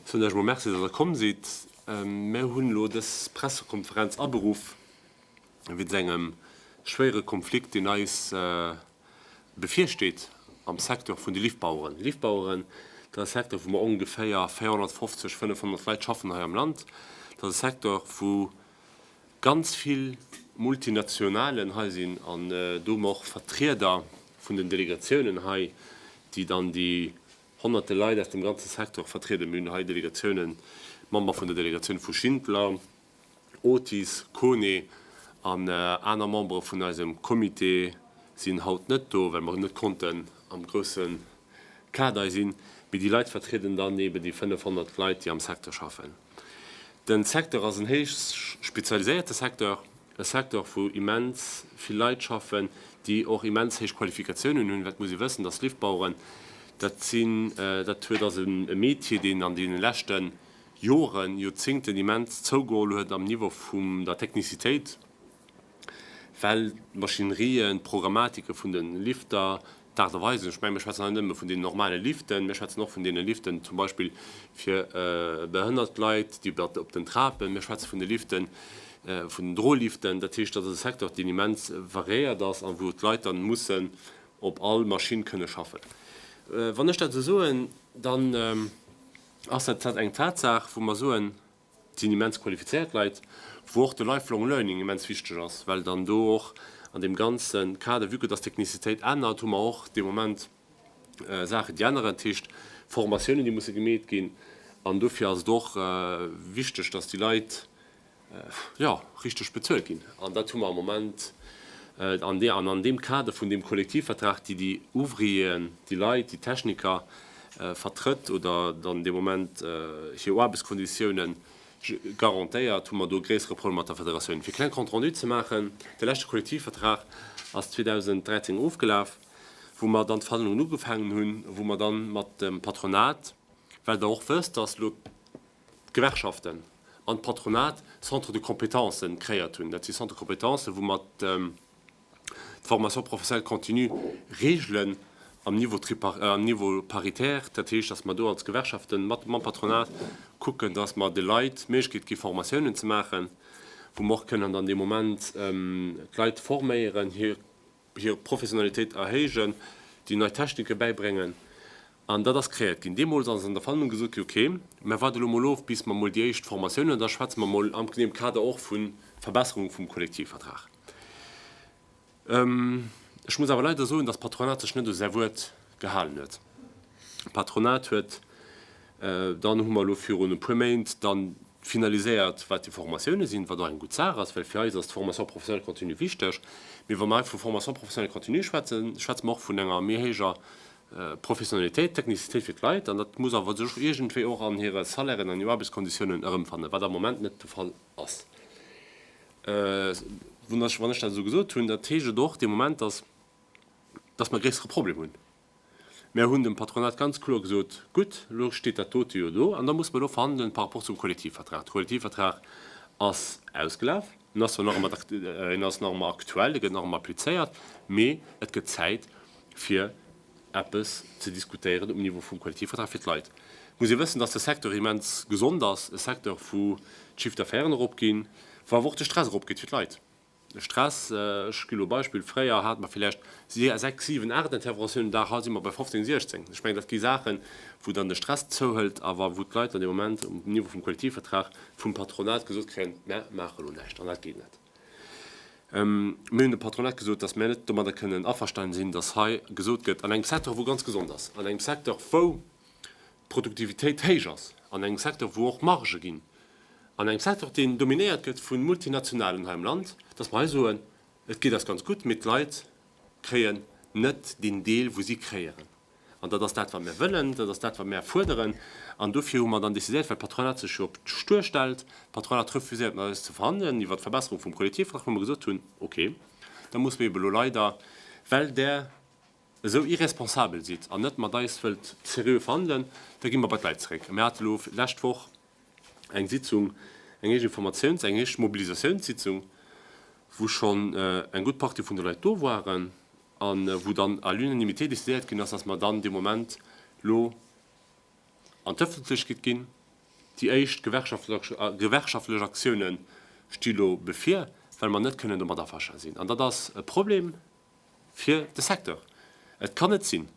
Soen iech mol Merci, dass der komm sidd. Mir hunn elo dës Pressekonferenz aberuff wéinst engem schwéiere Konflikt, deen eis bevirsteet am Secteur vun de Liftbaueren. Liftbaueren, dat ass e Secteur, wou mer ongeféier 450, 500 Leit schaffen hei am Land. Dat ass e Secteur, wou Ganz vill Multinationalen hei sinn an do hunn och Vertrieder vun den Delegatiounen hei, déi dann déi honnerte Leit aus dem ganze Secteur vertrieden. Mir hunn hei Delegatiounen, Member vun der Delegatioun vu Schindler, Otis, Kone an aner Membere vun eisem Comité sinn haut net do, well mer net konnten am grousse Kader sinn, mee déi Leit vertrieden dann eben déi 500 Leit, déi am Secteur schaffen. Den Secteur ass en héich spezialiséierte Secteur, e Secteur, wou immens vill Leit schaffen, déi och immens héich Qualifikatiounen hunn. Wat muss ee wëssen? Dass Liftbaueren, dat sinn, dat huet, ass e Metier, deen an deene leschte Joren, Joerzéngten immens zougeholl huet am Niveau vum der Technicitéit. well d'Maschinerien, d'Programmatike vun de Lifter, d'Aart a Weisen, ech mengen, mir schwätzen hei net nëmme vun deenen normale Liften, mir schwätzen och vun deene Liften zum Beispill fir behënnert Leit, déi op den Trapen, mir schwätze vun de Liften, vun den Droliften. Dat heescht, dat ass e Secteur, deen immens variéiert ass a wou d'Leit dann mussen op all Maschinn kënne schaffen. Wann ech dat esou soen, dann ass dat eng Tatsaach, wou mer soen, Et sinn immens qualifizéiert Leit, wou och de lifelong learning immens wichteg ass, well dann do och an deem ganze Kader, vue que dass d'Technicitéit ännert, hu mer och de Moment Saachen, déi änneren, dat heescht Formatiounen, déi musse gemeet ginn. An dofir ass et och wichteg, dass déi Leit, jo, richteg bezuelt ginn. An dat hu mer am Moment an deem Kader vun deem Kollektivvertrag, déi déi Ouvrieren, déi Leit, déi Techniker, vertrëtt oder dann dee Moment hir Aarbechtskonditioune garantéiert, hu mer do e gréissere Problem mat der Federatioun. Fir e kleng Compte-rendu ze maachen, De leschte Kollektivvertrag ass 2013 ofgelaf, wou mer dann d'Verhandlungen ugefaangen hunn, wou mer dann mat dem Patronat, well Der och wësst, datt elo d'Gewerkschaften an d'Patronat Centres de compétences kréiert hunn, dat si Centres de compétences, wou mer d'Formation professionnelle continue regelen am Niveau paritaire. Dat heescht, datt mer do als Gewerkschaften mat mam Patronat kucken, datt mer de Leit d'Méiglechkeet gi Formatiounen ze maachen, wou mer och kënnen dann dee Moment d'Leit forméieren, hir Professionalitéit erhéijen, déi nei Technike bäibréngen. An dat ass crééiert ginn. Deemools ass an der Verhandlung gesot ginn, okay, mä waart elo mol of, bis mer mol déi éischt Formatiounen, an da schwätze mer mol am dem Kader och vu Verbesserung vum Kollektivvertrag. Ech muss awer leider soen, dass d'Patronat sech net u säi Wuert gehalen huet. D'Patronat huet dann, hu mer elo virun e puer Méint dann finaliséiert, wat déi Formatiounen sinn, wat och eng gutt Saach ass, well fir eis ass d'Formation professionnelle continue wichteg. Mee wa mer hei vu Formation professionnelle continue schwätzen, schwätze mer och vun enger méi héijer Professionalitéit, Technicitéit fir d'Leit, an dat muss awer sech iergendwéi och an hire Salairen, an hir Aarbechtskonditiounen erëmfannen, wat am Moment net de Fall ass. Wann ech dat esou gesot hunn, dat heescht et och de Moment, dass dass mer e gréissere Problem hunn. Mer hunn dem Patronat ganz kloer gesot, Gutt, elo steet dat dote jo do, an da muss mer elo verhandelen par rapport zum Kollektivvertrag. De Kollektivvertrag ass ausgelaf. En ass zwar nach ëmmer ak, en ass nach ëmmer aktuell, e gëtt nach ëmmer applizéiert, mee et gëtt Zäit fir eppes ze diskutéieren um Niveau vum Kollektivvertrag fir d'Leit. Et muss ee wëssen, datt de Secteur immens gesond ass, e Secteur wou d'Chiffre d'affaires erop ginn, wou awer och de Stress erop geet fir d'Leit. De Stress, ech gi lo Beispill, fréier hate mer villäicht sechs, siwen, aacht Interventiounen de Dag, haut si mer bei fofzéng, siechzéng. Ech mengen dat gi Saachen, wou dann de Stress zouhëlt, awer wou d'Leit dann dee Moment um Niveau vum Kollektivvertrag vum Patronat gesot kréien, Mär maache lo näischt an dat geet net. Mir hunn dem Patronat gesot, datt mär net domadder kënnen averstane sinn, datt hei gesot gëtt, an engem Secteur wou ganz gesond ass, an engem Secteur wou d'Produktivitéit héich ass, an engem Secteur wou och Margë ginn, an engem Secteur deen dominéiert gëtt vu Multinationalen hei am Land, datt mer hei soen, et geet eis ganz gutt, mee d'Leit kréien net deen Deel wou si kréieren. An dat ass dat, wat mir wëllen, dat ass dat, wat mir fuerderen. An dofir hu mer dann decidéiert, well d'Patronat sech jo op d'Stur stellt, d'Patronat refuséiert mat eis ze verhandelen iwwert d'Verbesserung vum Kollektivvertrag, wou mer gesot hunn, okay, da muss mir eebe lo leider, well Der esou irresponsabel sidd an net mat eis wëllt seriö verhandelen, da gi mer bei d'Leit zeréck. A mir hate lo d'lescht Woch eng Sitzung, eng éischt Informatiouns-, eng éischt Mobilisatiounssitzung, wou schonn eng gutt Partie vun de Leit do waren. a wou dann à l'unanimité décidéiert ginn ass, dass mer dann dee Moment elo an d'Öffentlechkeet ginn. Déi éischt gewerkschaftlech Aktioune sti lo bevir, well mer net kënnen domat aversta sinn. An dat ass e Problem fir de Secteur. Et kann net sinn!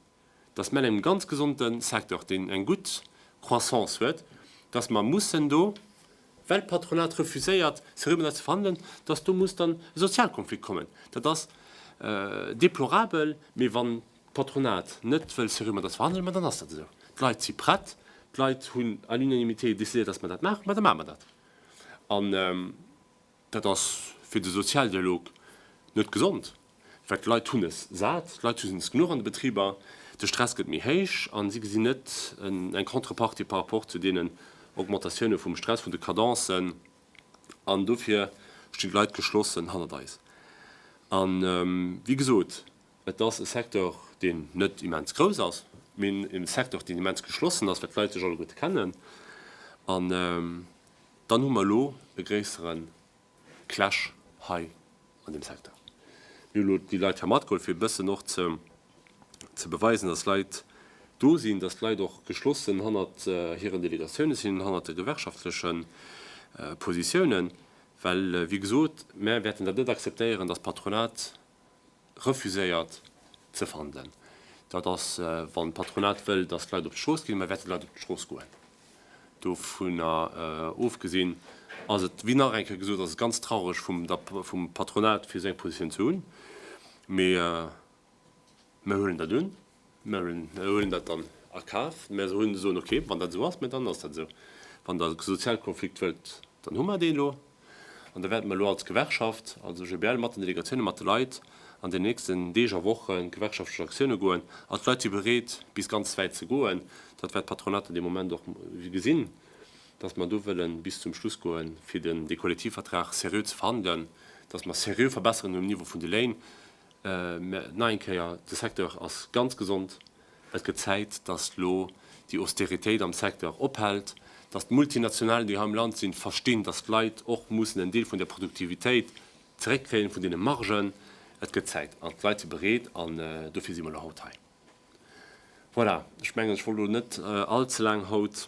dass mell en ganz gesonde Secteur, deen eng gutt Croissance huet, dass mer mussen do, well d'Patronat refuséiert se rmedel ze verhandelen, dass do muss dann e Sozialkonflikt kommen. Dat ass déplorabel, mee wann d'Patronat net wëll se rmedel verhandelen, ma dann ass dat esou. D'Leit si prett, d'Leit hunn à l'unanimité décidéiert, dass mer dat maachen, ma da maache mer dat. Dat ass fir de Sozialdialog net gesond, well d'Leit hunn es sat, d'Leit hunn es genuch an de Betriber, de Stress gëtt méi héich a si gesinn net eng Contrepartie par rapport zu deenen Augmentatioune vum Stress, vun de Cadencen an dofir stinn d'Leit geschlossen hannert eis. A wéi gesot, et ass e Secteur, deen net immens grouss ass, mee e Secteur, deen immens geschlossen ass, well d'Leit sech alleguerte kennen an. Dann hu mer elo e gréissere Clash hei an deem Secteur. Mir hu elo déi Leit hei matgeholl, fir e bëssen och ze beweisen, dass Leit do sinn, dass d'Leit och geschlossen hannert hiren Delegatioune sinn, hannert de gewerkschaftleche Positiounen. Well, wéi gesot, mer wäerten dat net akzeptéieren, dass d'Patronat refuséiert ze fannen. Dat ass, wann d'Patronat wëll, datt d'Leit op d'Strooss ginn, da wäerte d'Leit op d'Strooss goen. Dovunner ofgesinn ass et, wéi nach eng Kéier gesot ass et ganz traureg vum Patronat, fir esou eng Positioun ze hunn. Mee mer huelen dat un. Mä mir huelen dat dann a Kaf. Mä se hunn, soen, okay, wann dat esou ass, mä dann ass dat esou. Wann Der e Sozialkonflikt wëllt, dann hu mer dee elo. An da wäerte mer elo als Gewerkschaft, als OGBL mat den Delegatioune, mat de Leit an den nächsten Deeg a Woche gewerkschaftlech Aktioune goen. An d'Leit si bereet, bis ganz wäit ze goen. Dat wäert d'Patronat an deem Moment och gesinn, datt mer do wëlle bis zum Schluss goe fir dee Kollektivvertrag seriö ze verhandelen, datt mer seriö Verbesserungen hunn um Niveau vun de Léin. Mä nach eng Kéier, de Secteur ass ganz gesond. Et gëtt Zäit, datt elo déi Austeritéit am Secteur ophält, datt d'Multinationalen, déi hei am Land sinn, verstinn, datt d'Leit och mussen en Deel vun der Produktivitéit zeréckkréien, vun deene Margen. Et gëtt Zäit an d'Leit si bereet an dofir si mer elo haut hei. Voilà, ech mengen, ech wollt elo net all ze laang haut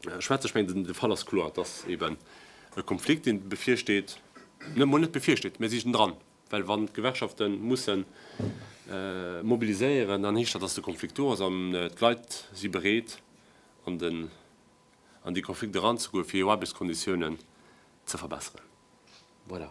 schwätzen. Ech mengen, de Fall ass kloer, et ass eeben e Konflikt, dee bevirsteet, mol net bevirsteet, mä si sinn dran. Well wann d'Gewerkschafte mussen mobiliséieren, dann heescht dat, datt de Konflikt do ass an d'Leit si bereet an dee Konflikt eranzegoen, fir hir Aarbechtskonditiounen ze verbesseren. Voilà.